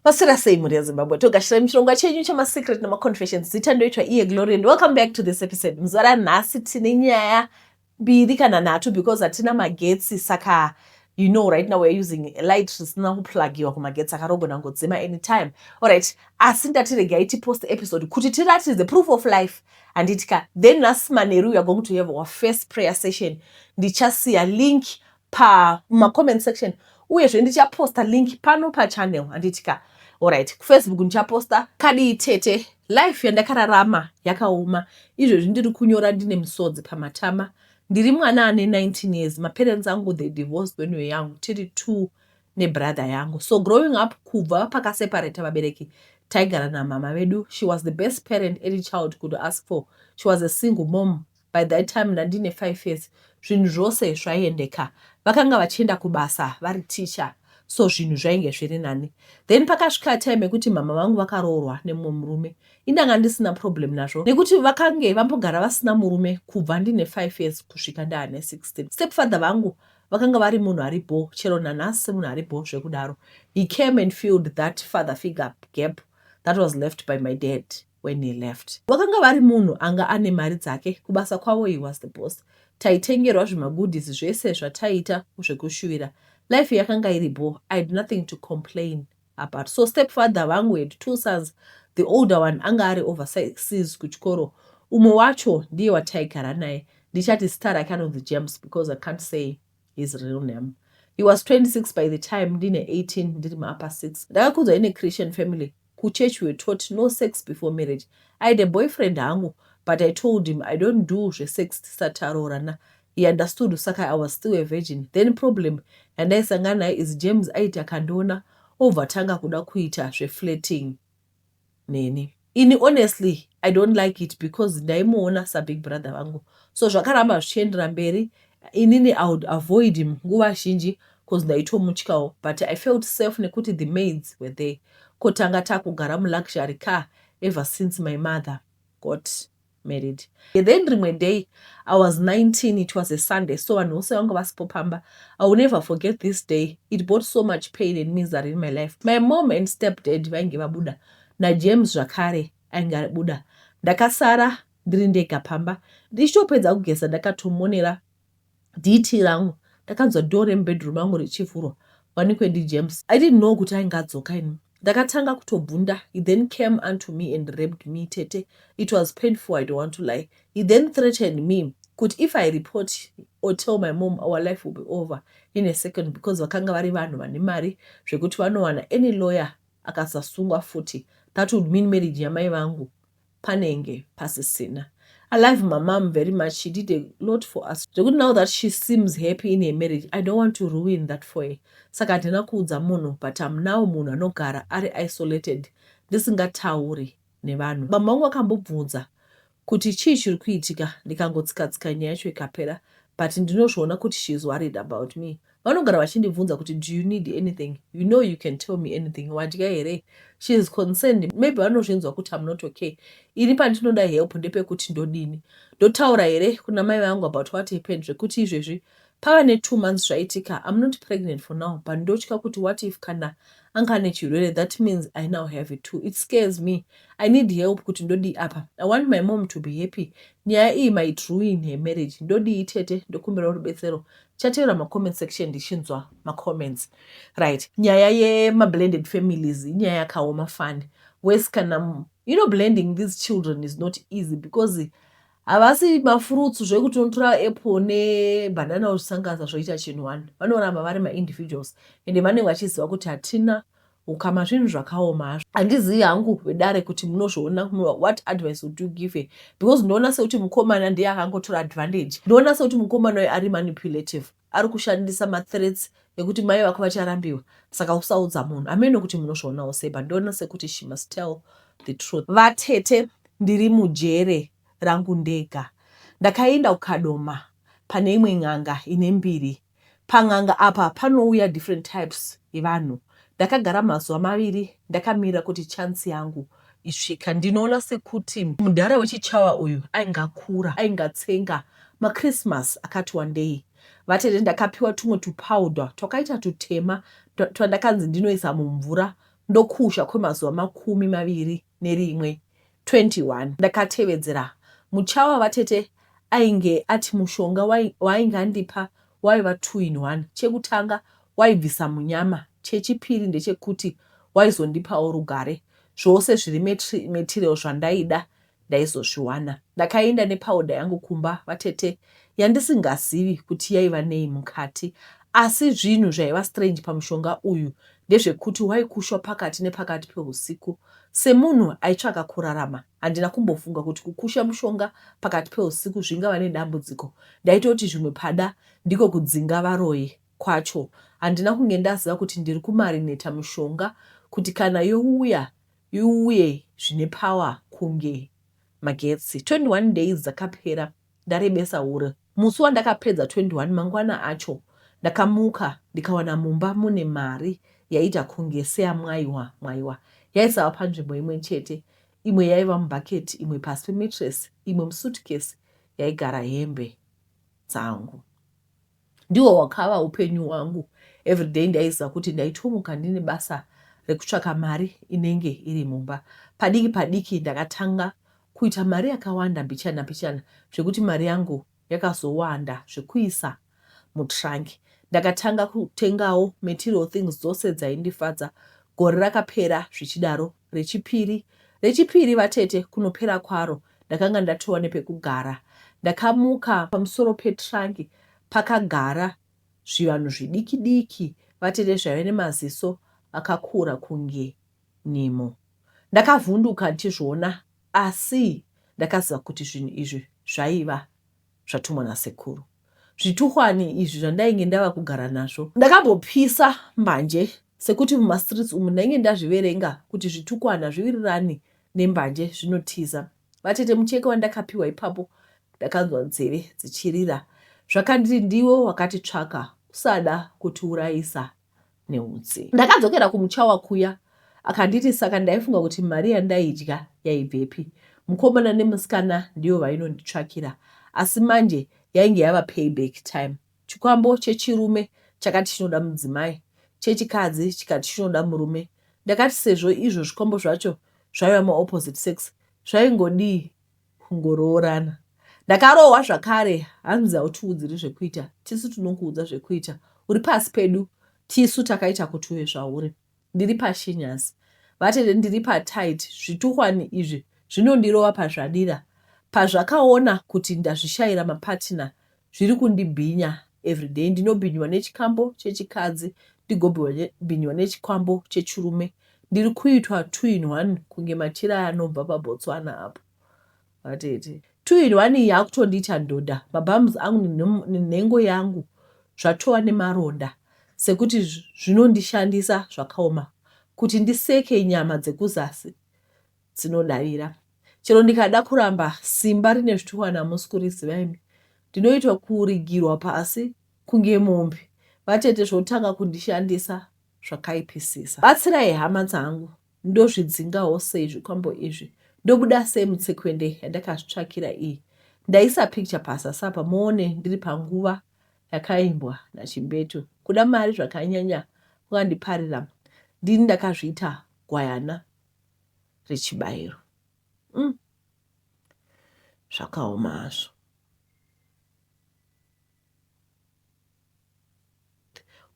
Pasira sei mhuri yeZimbabwe togashira muchirongwa chenyu chemasecret nemaconfessions zita ndoitwa iye glory and welcome back to this episode muzuva ranhasi tine nyaya mbiri kana nhatu because hatina magetsi saka you know right now weare using light risina kuplugiwa kumagetsi akarogona ngodzima anytime allright asi ndatiregai tipost episode kuti tiratidze proof of life handitika then nhasi manheru weare going to have our first prayer session ndichasiya link pa ma comment section uyezve ndicha posta link pano pa channel handiti ka alright ku Facebook ndicha posta kadii tete life yandakararama yakaoma izvezvi ndiri kunyora ndine musodzi pamatama ndiri mwana ane 19 years maparents angu they divorced when we young tiri two nebrother yangu so growing up kubva pakaseparata vabereki taigara namama vedu she was the best parent any child could ask for she was a single mom By that time ndandine five years zvinhu zvose zvaiendeka. Vakanga vachienda kubasa vari teacher so zvinhu zvainge zviri nani. Then pakasvika time yekuti mhamha vangu vakaroorwa nemumwe murume. Ini ndanga ndisina problem nazvo nekuti vakange vambogara vasina murume kubva ndine five years kusvika ndaane 16. Stepfather vangu vakanga vari munhu ari bho chero nanhasi munhu ari bho zvekudaro. He came and filled that father figure gap that was left by my dad. when he left. Vakanga vari munhu anga ane mari dzake kubasa kwavo he was the boss. Taitengerwa zvimagoodies zvese zvataiita zvekushuvira. Life yakanga iri bho, I had nothing to complain about. So stepfather vangu had two sons, the older one anga ari overseas kuchikoro. Umwe wacho ndiye wataigara naye, ndichati zita rake anonzi James because I can't say his real name he was 26 by the time ndine 18 ndiri muupper 6 ndakakudzwa ine christian family kuchurch were taught no sex before marriage i had a boyfriend hangu but i told him i don't do zvesex tisati taroorana he understood saka i was still a virgin then problem yandaisangana nayo is james aiti akandiona obva tanga kuda kuita zveflating neni ini honestly i don't like it because ndaimuona sabig brother vangu so zvakaramba zvichiendera mberi inini i would avoid him nguva zhinji bcause ndaitomutyawo but i felt safe nekuti the maids were there kotanga takugara muluxury car ever since my mother got married then rimwe day i was 19 it was a sunday so vanhu vose vanga vasipo pamba i will never forget this day it brought so much pain and misery in my life my mom and step dad vainge vabuda najames zvakare ainge abuda ndakasara ndiri ndega pamba ndichitopedza kugeza ndakatomonera Diiti rangu. Ndakanzwa door remubedroom mangu richivhurwa wanikwe ndiJames. I didn't know kuti ainge adzoka ini. Ndakatanga kutobvunda he then came unto me and raped me tete it was painful I don't want to lie. He then threatened me kuti if I report or tell my mom our life will be over in a second because vakanga vari vanhu vane mari zvekuti vanowana any lawyer akasasungwa futi that would mean marriage yamai vangu panenge pasisina. I love my mom very much. She did a lot for us. Zvekuti now that she seems happy in her marriage, I don't want to ruin that for her. Saka handina kuudza munhu but I'm now munhu anogara ari isolated ndisingatauri nevanhu. Mama wangu akambobvunza kuti chii chiri kuitika ndikangotsikatsika nyaya yacho ikapera but ndinozviona kuti she is worried about me. Vanogara vachindibvunza kuti do you need anything? You know you can tell me anything. Wadya here? She is concerned. Maybe vanozvinzwa kuti I'm not okay. Ini pandinoda help ndepekuti ndodini? Ndotaura here kuna mai vangu about what happened zvekuti izvezvi pava ne two months zvaitika I'm not pregnant for now but ndotya kuti what if kana anga ane chirwere that means I now have it too. It scares me. I need help kuti ndodii apa. I want my mom to be happy. Nyaya iyi might ruin her marriage. Ndodii tete? Ndokumbirawo rubetsero. Chateera ma comment section ndichinzwa ma comments right nyaya yema blended families inyaya yakaoma fani wes kana you know blending these children is not easy because havasi mafruits zvekuti unotora apple nebanana osanganisa zvoita chinhu one vanoramba vari maindividuals ende vanenge vachiziva kuti hatina Ukama zvinhu zvakaoma hazvo. Handizivi hangu vedare kuti munozviona what advice would you give her because ndoona sekuti mukomana ndiye akangotora advantage. Ndoona sekuti mukomana uyu ari manipulative ari kushandisa mathreats ekuti mai vako vacharambiwa saka usaudza munhu ameno kuti munozvionawo sei but ndoona sekuti she must tell the truth. Vatete ndiri mujere rangu ndega ndakaenda kukadoma pane imwe n'anga ine mbiri Pan'anga apa panouya different types yevanhu. Ndakagara mazuva maviri ndakamirira kuti chance yangu isvika. Ndinoona sekuti mudhara wechiChawa uyu ainge akura ainge atsenga maChristmas akati wandei. Vatete ndakapiwa tumwe tupowder twakaita tutema twandakanzi ndinoisa mumvura ndokusha kwemazuva makumi maviri. nerimwe 21 ndakatevedzera muchawa vatete ainge ati mushonga waainge andipa waiva two in one chekutanga waibvisa munyama chechipiri ndechekuti waizondipawo rugare zvose zviri material zvandaida ndaizozviwana ndakaenda nepowder yangu kumba vatete yandisingazivi kuti yaiva nei mukati asi zvinhu zvaiva strange pamushonga uyu ndezvekuti waikushwa pakati nepakati pehusiku. Semunhu aitsvaka kurarama, handina kumbofunga kuti kukusha mushonga pakati pehusiku zvingava nedambudziko. Ndaitoti zvimwe pada ndiko kudzinga varoyi kwacho. Handina kunge ndaziva kuti ndiri kumarineta mushonga kuti kana youya iuye zvine power kunge magetsi. 21 days dzakapera ndarebesa hure. Musi wandakapedza 21 mangwana acho ndakamuka ndikawana mumba mune mari yaiita kunge seya Mwaiwa Mwaiwa yaisava panzvimbo imwe chete imwe yaiva mubucket imwe pasi pemetress imwe musuitcase yaigara hembe dzangu. Ndiwo wakava upenyu hwangu everyday ndaiziva kuti ndaitomuka ndine basa rekutsvaka mari inenge iri mumba. Padiki padiki ndakatanga kuita mari yakawanda mbichana mbichana zvekuti mari yangu yakazowanda zvekuisa mutrunk. Ndakatanga kutengawo material things dzose dzaindifadza. Gore rakapera zvichidaro rechipiri rechipiri vatete kunopera kwaro ndakanga ndatova nepekugara. Ndakamuka pamusoro petrangi pakagara zvivanhu zvidiki diki vatete zvaive nemaziso akakura kunge nyimo. Ndakavhunduka ndichizviona asi ndakaziva kuti zvinhu izvi zvaiva. zvatumwa nasekuru. Zvituhwani izvi zvandainge ndava kugara nazvo. Ndakambopisa mbanje sekuti mumastreets umu ndainge ndazviverenga kuti zvitukwana zviwirirani nembanje zvinotiza. Vatete mucheke wandakapiwa ipapo ndakanzwa nzeve dzichirira zvakandiri ndiwo wakatitsvaka usada kutiurayisa neutsi. Ndakadzokera kumuchawa kuya akanditi saka ndaifunga kuti mari yandaidya yaibvepi mukomana nemusikana ndiyo vainonditsvakira asi manje yainge yava payback time chikwambo chechirume chakati chinoda mudzimai chechikadzi chikati chinoda murume ndakati sezvo izvo zvikwambo zvacho zvaiva maopposite sex zvaingodii kungoroorana ndakarohwa zvakare hanzi hautiudziri zvekuita tisu tinokuudza zvekuita uri pasi pedu tisu takaita kuti uye zvauri ndiri pashinyasi vatete ndiri patit zvituhwani izvi zvinondirova pazvadira pazvakaona kuti ndazvishayira mapatina Zviri kundibhinya everyday ndinobhinywa nechikambo chechikadzi ndigobhinywa nechikambo chechirume ndiri kuitwa two in one kunge machira aya anobva paBotswana apo vatete two in one iyi yakutondiita ndoda mabums angu nenhengo yangu zvatova nemaronda sekuti zvinondishandisa zvakaoma kuti ndiseke nyama dzekuzasi dzinodavira. Chero ndikada kuramba simba rine zvituhwa namusi kuriziva imi. Ndinoitwa kurigirwa pasi kunge mombe. Vatete zvotanga kundishandisa zvakaipisisa. Batsirai hama dzangu ndozvidzingawo sei zvikwambo izvi. Ndobuda sei mutsekwende yandakazvitsvakira iyi. Ndaisa picture pasasapa muone ndiri panguva yakaimbwa nachimbetu. Kuda mari zvakanyanya kukandiparira ndini ndakazviita gwayana. rechibairo mm. zvakaoma hazvo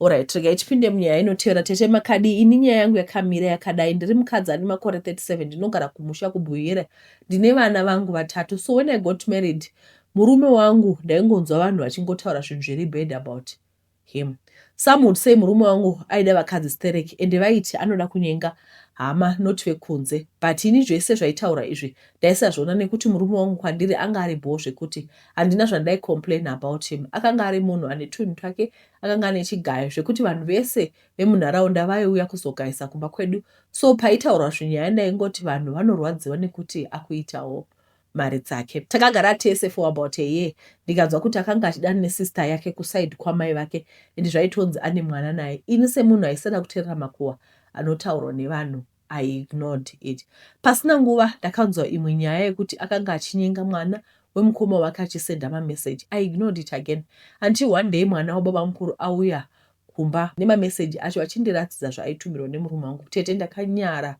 orit regai tipinde munyaya inotevera tete makadi ini nyaya yangu yakamira yakadai ndiri mukadzi ane makore 37 ndinogara kumusha kubuyera ndine vana vangu vatatu so when i got married murume wangu ndaingonzwa vanhu vachingotaura zvinhu zviri bad about it Him. Some would say murume wangu aida vakadzi stereki ende vaiti anoda kunyenga hama not vekunze but ini zvese zvaitaura izvi ndaisazviona nekuti murume wangu kwandiri anga ari bhoo zvekuti handina zvandai complain about him akanga ari munhu ane twunhu twake akanga ane chigayo zvekuti vanhu vese vemunharaunda vaiuya kuzogaisa kumba kwedu so paitaurwa zvinyaya ndaingoti vanhu vanorwadziwa nekuti akuitawo mari dzake. Takagara tese for about a year ndikanzwa kuti akanga achidana nesister yake kuside kwamai vake and zvaitonzi ane mwana naye. Ini semunhu aisada kuterera makuhwa anotaurwa nevanhu I ignored it. Pasina nguva ndakanzwa imwe nyaya yekuti akanga achinyenga mwana wemukoma wake achisenda mamessage. I ignored it again until one day mwana wababamukuru auya kumba nemameseji acho achindiratidza zvaaitumirwa nemurume wangu tete ndakanyara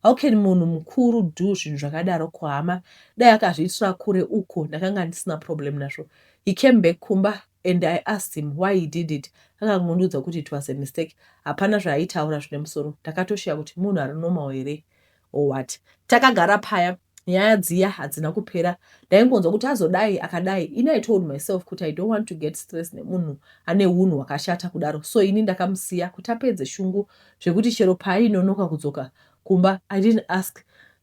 how can munhu mukuru do zvinhu zvakadaro kuhama dai akazviitira kure uko ndakanga ndisina problem nazvo he came back kumba and i asked him why he did it akangondiudza kuti it was a mistake hapana zvaaitaura zvine musoro ndakatoshiya kuti munhu ari normal here or what. Takagara paya nyaya dziya hadzina kupera ndaingonzwa kuti azodai akadai ini i told myself kuti i don't want to get stress nemunhu ane unhu hwakashata kudaro so ini ndakamusiya kuti apedze shungu zvekuti chero paainonoka kudzoka kumba i didn't ask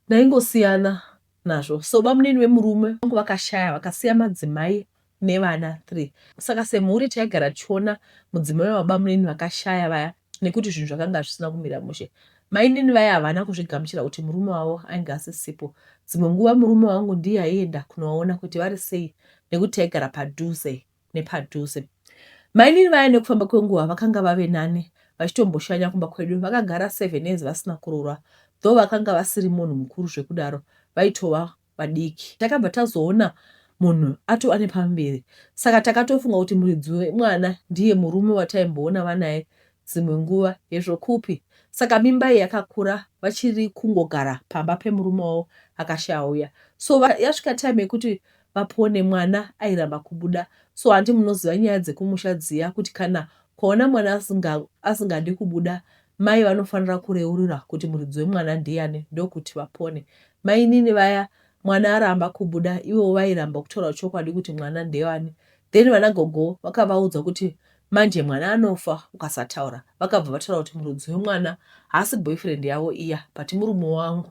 ndaingosiyana nazvo so bamunini vemurume vangu vakashaya vakasiya madzimai nevana three saka semhuri taigara tichiona mudzimai webabamunini vakashaya vaya nekuti zvinhu zvakanga zvisina kumira mushe. Mainini vaya havana kuzvigamuchira kuti murume wavo ainge asisipo. Dzimwe nguva murume wangu ndiye aienda kunovaona kuti vari sei nekuti taigara padhuze nepadhuze. Mainini vaya nekufamba kwenguva vakanga vave nani vachitomboshanya kumba kwedu. Vakagara seven years vasina kuroorwa though vakanga vasiri munhu mukuru zvekudaro vaitova vadiki takabva tazoona munhu atova nepamberi saka takatofunga kuti muridzi wemwana ndiye murume wataimboona vanaye dzimwe nguva hezvo kupi saka mimba iyi yakakura vachiri kungogara pamba pemurume wavo akashauya so yasvika time yekuti vapone mwana airamba kubuda so handi munoziva nyaya dzekumusha dziya kuti kana kwaona mwana asingadi kubuda Mai vanofanira kureurura kuti muridzi wemwana ndiyani ndokuti vapone. Mainini vaya mwana aramba kubuda ivowo vairamba kutaura chokwadi kuti mwana ndewani then vana gogo vakavaudza kuti manje mwana anofa ukasataura. Vakabva vataura kuti muridzi wemwana haasi boyfriend yavo iya but murume wangu.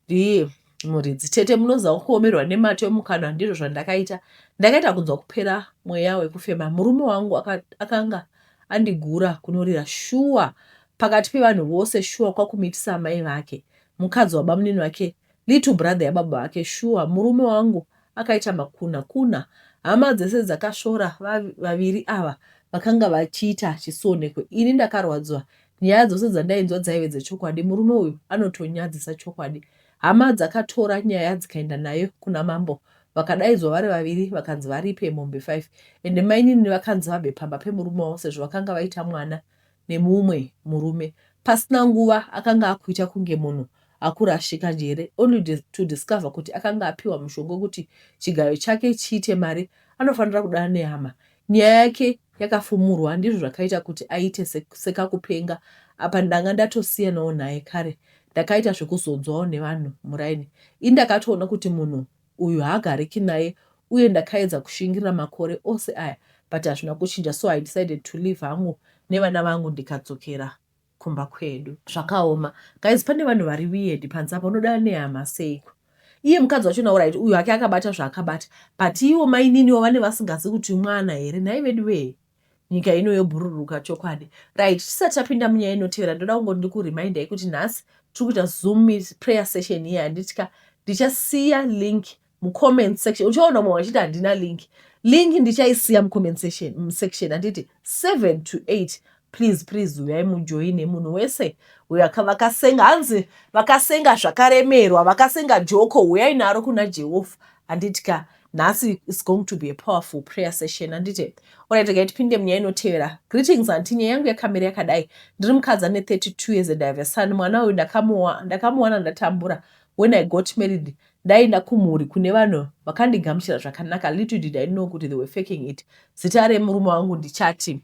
Ndiye muridzi. Tete munoziva kuomerwa nemato emukanwa ndizvo zvandakaita. Ndakaita kunzwa kupera mweya wekufema. Murume wangu aka, akanga andigura kunorira shuwa pakati pevanhu vose shuwa kwakumuitisa amai vake mukadzi wabamunini vake little brother yababa vake shuwa murume wangu Akaita makuna kuna hama dzese dzakasvora vaviri ava vakanga vachiita chisionekwe. Ini ndakarwadziwa. Nyaya dzose dzandainzwa dzaive dzechokwadi. Murume uyu anotonyadzisa chokwadi. Hama dzakatora nyaya dzikaenda nayo kuna mambo. Vakadaidzwa vari vaviri vakanzi varipe mombe 5 ende mainini vakanzi vabve pamba pemurume wavo sezvo vakanga vaita mwana nemumwe murume pasina nguva akanga akuita kunge munhu akurashika njere only to discover kuti akanga apiwa mushonga wekuti chigayo chake chiite mari anofanira kudana nehama nyaya yake yakafumurwa ndizvo zvakaita kuti aite sekakupenga apa ndanga ndatosiyanawo naye kare ndakaita zvekuzodzwawo nevanhu muraini ini ndakatoona kuti munhu uyu haagariki naye uye ndakaedza kushingirira makore ose aya but hazvina kuchinja so I decided to leave hangu nevana vangu ndikadzokera kumba kwedu. Zvakaoma guys pane vanhu vari weird panze apa unodana nehama seiko iye mukadzi wacho nawo right uyu hake akabata zvaakabata but iwo maininiwo vane vasingazi kuti mwana here nhai veduwee. nyika ino yobhururuka chokwadi right tisati tapinda munyaya inotevera ndoda kungoti ndikuremindai kuti nhasi tiri kuita zoom prayer session iye handitika ndichasiya link mucomment section uchaona mumwe vachiti handina link link ndichaisiya mucomment section section handiti seven to eight please please uyai mujoine munhu wese uyo vakasenga hanzi vakasenga zvakaremerwa vakasenga joko uyai naro kuna jehovha handitika ka nhasi is going to be a powerful prayer session handite orit regai tipinde munyaya inotevera greetings anti nyaya yangu yakamira yakadai ndiri mukadzi ane 32 years and ive son mwana uyu ndakamuwana ndatambura when i got married ndaenda kumhuri kune vanhu vakandigamuchira zvakanaka little did i know kuti they were faking it zita remurume wangu ndichati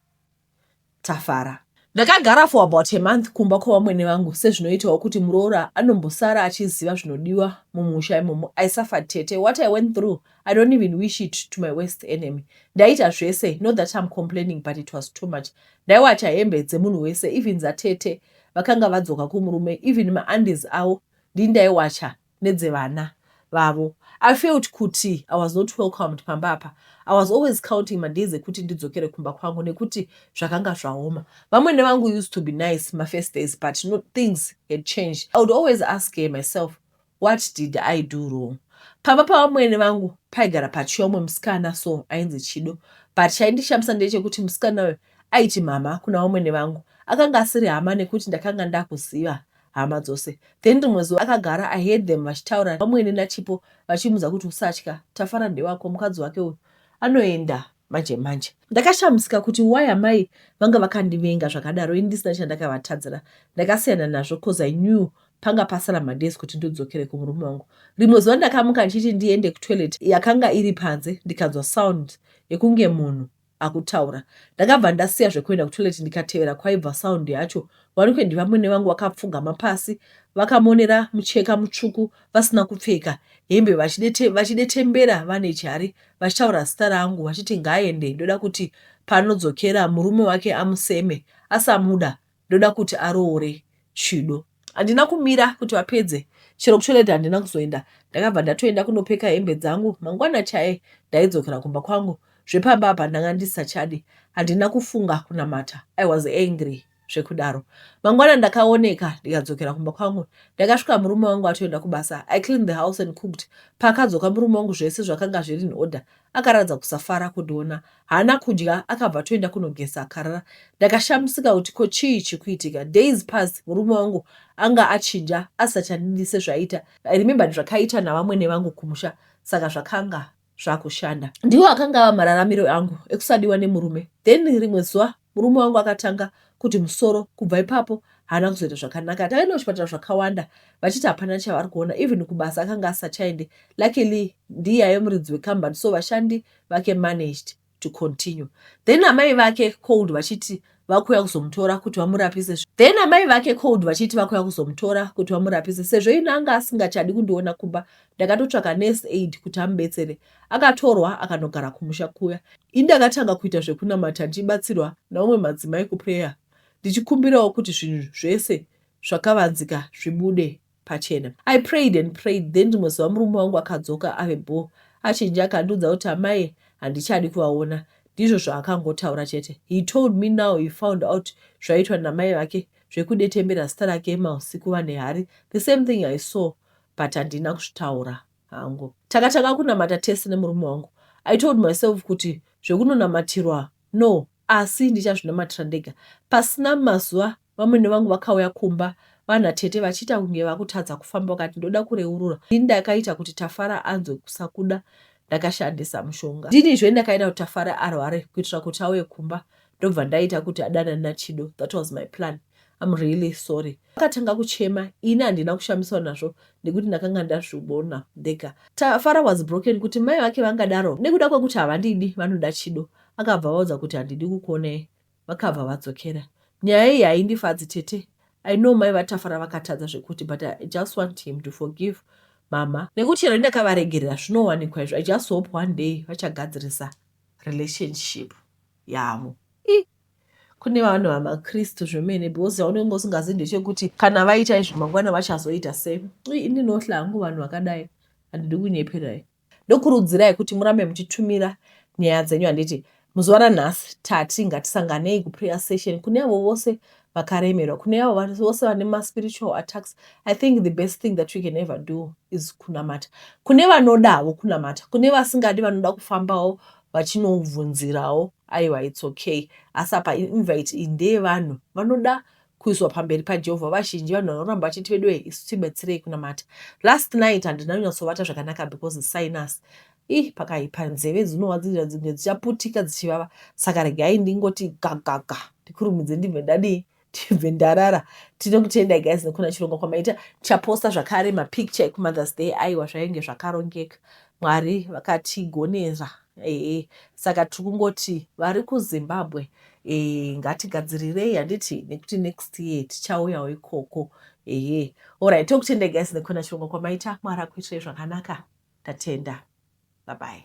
Tafara. Ndakagara for about a month kumba kwavamwene vangu sezvinoitawo kuti muroora anombosara achiziva zvinodiwa mumusha imomo. I suffered tete. What I went through, I don't even wish it to my worst enemy. Ndaiita zvese, not that I'm complaining but it was too much. Ndaiwacha hembe dzemunhu wese, even dzatete vakanga vadzoka kumurume, even maandies avo ndini ndaiwacha. nedzevana vavo I felt kuti I was not welcomed pamba apa I was always counting madays ekuti ndidzokere kumba kwangu nekuti zvakanga zvaoma vamwene vangu used to be nice mafirst days but no, things had changed I would always ask her myself what did I do wrong pamba pavamwene vangu paigara pachiya umwe musikana so ainzi chido but chaindishamisa ndechekuti musikana uyo aiti mhama kuna vamwene vangu akanga asiri hama nekuti ndakanga ndakuziva hama dzose then rimwe zuva akagara i heard them vachitaura vamwene nachipo vachimudza kuti usatya tafara ndewako mukadzi wake uyu anoenda manje manje ndakashamisika kuti why amai vanga vakandivenga zvakadaro indisina chandakavatadzira ndakasiyana nazvo cause i knew panga pasara madays kuti ndodzokere kumurume wangu rimwe zuva ndakamuka ndichiti ndiende kutoilet yakanga iri panze ndikanzwa sound yekunge munhu akutaura. Ndakabva ndasiya zvekuenda kutoilet ndikatevera kwaibva sound yacho. Wanikwe ndivamwene vangu vakapfugama pasi vakamonera mucheka mutsvuku vasina kupfeka hembe vachidetembera vane chari vachitaura zita rangu vachiti ngaaende ndoda kuti panodzokera murume wake amuseme asamuda ndoda kuti aroore Chido. Handina kumira kuti vapedze chero kutoilet handina kuzoenda ndakabva ndatoenda kunopeka hembe dzangu mangwana chaye ndaidzokera kumba kwangu zvepamba apa ndanga ndisisachadi handina kufunga kunamata i was angry zvekudaro mangwana ndakaoneka ndikadzokera kumba kwangu ndakasvika murume wangu atoenda kubasa i clean the house and cooked paakadzoka murume wangu zvese zvakanga zviri in order akaratidza kusafara kundiona haana kudya akabva atoenda kunogeza akarara ndakashamisika kuti ko chii chikuitika days pass murume wangu anga achinja asisati andidi sezvaiita i remembered zvakaiita navamwene vangu kumusha saka zvakanga zvakushanda ndiwo akanga ava mararamiro angu ekusadiwa nemurume then rimwe zuva Murume wangu akatanga kuti musoro kubva ipapo haana kuzoita zvakanaka takaenda kuchipatara zvakawanda vachiti hapana chavari kuona even kubasa akanga asachaende luckily ndiye aive muridzi wekambani so vashandi vake managed to continue then amai vake cold vachiti vakuuya kuzomutora kuti vamurapise then amai vake cold vachiti vakuuya kuzomutora kuti vamurapise sezvo ini anga asingachadi kundiona kumba ndakatotsvaka nurse aid kuti amubetsere Akatorwa akanogara kumusha kuya. Ini ndakatanga kuita zvekunamata ndichibatsirwa naumwe madzimai kuprayer ndichikumbirawo kuti zvinhu zvese zvakavanzika zvibude pachena. I prayed and prayed then rimwe zuva murume wangu akadzoka ave bho achinja akandiudza kuti amai handichadi kuvaona ndizvo zvaakangotaura chete. He told me now he found out zvaiitwa namai vake zvekudetembera zita rake mausiku vane hari the same thing I saw but handina kuzvitaura. hangu. Takatanga kunamata tese nemurume wangu. I told myself kuti zvekunonamatirwa no asi ndichazvinamatira ndega. Pasina mazuva vamwene vangu vakauya kumba vana tete vachiita kunge vakutadza kufamba vakati ndoda kureurura ndini ndakaita kuti Tafara anzwe kusakuda ndakashandisa mushonga. Ndini zve ndakaita kuti Tafara arware kuitira kuti auye kumba ndobva ndaita kuti adanane naChido. That was my plan. I'm really sorry. Akatanga kuchema, ini handina kushamiswa nazvo nekuti ndakanga ndazvibona ndega. Tafara was broken kuti mai vake vangadaro nekuda kwekuti havandidi vanoda chido. Akabva vaudza kuti handidi kukuonai. Vakabva vadzokera. Nyaya iyi haindifadzi tete. I know mai vaTafara vakatadza zvekuti but I just want him to forgive mama nekuti chero ndakavaregerera zvinowanikwa izvo. I just hope one day vachagadzirisa relationship yavo. kune vanhu vamakristu zvemene because chaunenge usingazi ndechekuti kana vaita izvi mangwana vachazoita sei ui ini ndinohla hangu vanhu vakadai handidi kunyeperai ndokurudzirai kuti murambe muchitumira nyaya dzenyu handiti muzuva ranhasi tati ngatisanganei kuprayer session kune avo vose vakaremerwa kune avo vose vane maspiritual attacks i think the best thing that we can ever do is kunamata kune vanodavo kunamata kune vasingadi vanoda kufambawo vachinoubvunzirawo aiwa its okay asi apa invite iyi ndeyevanhu vanoda kuiswa pamberi pajehovha vazhinji vanhu vanoramba vachiti vedu wee isu tibetserei kunamata last night handina kunyatsovata zvakanaka because sinus ih pakaipa nzeve dzinorwadzirira dzimwe dzichaputika dzichivava saka regai ndingoti gagaga ndikurumidze ndibve ndadii tibve ndarara tinokutendai guys nekuna chirongwa kwamaita chaposta zvakare mapicture ekumothers day aiwa zvainge zvakarongeka mwari vakatigonera ee saka tiri kungoti vari kuzimbabwe ee ngatigadzirirei handiti nekuti next year tichauyawo ikoko ee orit tokutendai guys nekuna chirongwa kwamaita mwari akuitirai zvakanaka tatenda babai